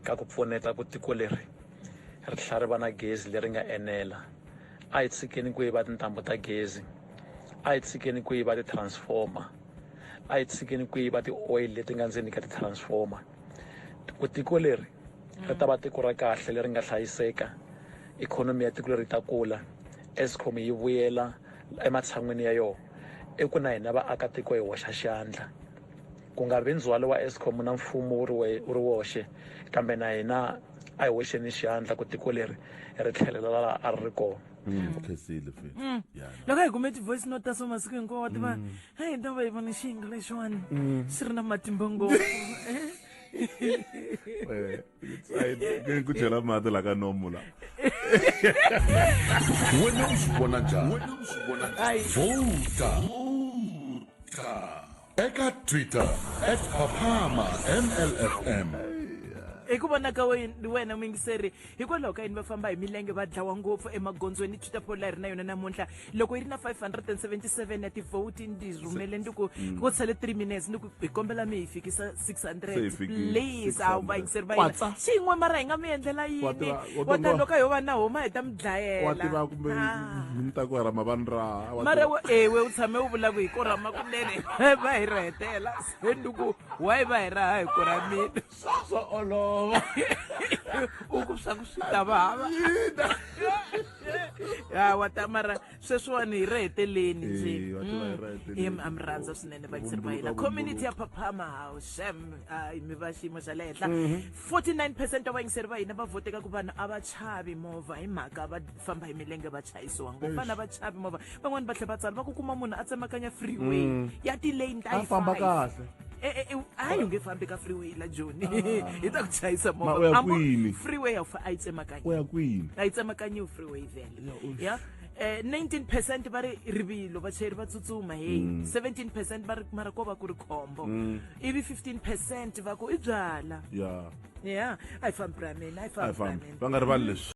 ka ku pfuneta ku tiko leri ri tlhela ri va na gezi leri nga enela a hi tshikeni ku yiva tintambu ta gezi a hi tshikeni ku yiva ti-transformer a yi tshikeni ku yiva ti-oil leti nga ndzeni ka ti-transformer ku tiko leri ri ta va tiko ra kahle leri nga hlayiseka ikhonomi ya tiko leri ta kula escom yi vuyela ematshan'wini ya yona i ku na hina vaakatiko hi hoxa xandla ku nga vi ndzhwalo wa escom na mfumo wu ri wu ri woxe kambe na hina a hi hoxeni xandla ku tiko leri ri tlhelela laha a ri ri kona Mm. mm. khesile futhi mm. yeah no. loko hi kume ti-voice note ta so masiku hinkwawo wa tiva mm. heyi hi ta va hi vone xiyinga lexiwani xi ri na matimba ngopfu ku chela mati la ka nomu la wena u swi vona njhani vota eka twitter at phaphama mlfm hi ku vona ka wena muyingiseri hikwalaho ka yini va famba hi milenge va dlawa ngopfu emagondzweni twitter poll a ri na yona namuntlha loko yi ri na 577 ya tivhoti ndi rhumele ndi ku mm. ku tshele 3 minutes ni ku hi kombela mi hi fikisa 600 please a wu va yingiseri va yina xin'we mara hi nga mi endlela yini wa ta loko hi yo va na homa hi ta mi dlayela kumbe mi ta ku ra mavani ra mara ewe u tshame u vula ku hi ko rama kunene va hi ri hetela se ni ku why va hi raha hi ku ra mina swo olova u ku swa ku swi ta va hava ya wa ta mara sweswiwani hi ri heteleni ndzi Eyi, wa tiva hi ri heteleni. Em, a mi rhandza swinene vayiseri va hina Vumbuluka, community ya phaphama hawu xem hayi mi va xiyimo xa le henhla 49 percent wa vayingiseri va hina va voteka ku vanhu a va chavi movha hi mhaka va famba hi milenge va chayisiwa ngopfu vanhu a va chavi movha van'wani va tlhe va tsala va ku kuma munhu a tsemakanya freeway ya tilane ta A yi famba five. kahle. E- e- e- hayi u nge fambi ka freeway la joni hi ta ku chayisa Ma, u ya movha Ambo- kwini? freeway a wu fa- a yi tsemakanya u ya kwini a yi tsemakanyiwi freeway vele ya eh 19 percent va ri rivilo vachayeri va tsutsuma heyi 17 percent va ri mara ko va ku ri khombo ivi 15 percent va ku i byala ya ya a yi fambi ra mina a yi a hi fambi ra fambi mina va nga rivali leswi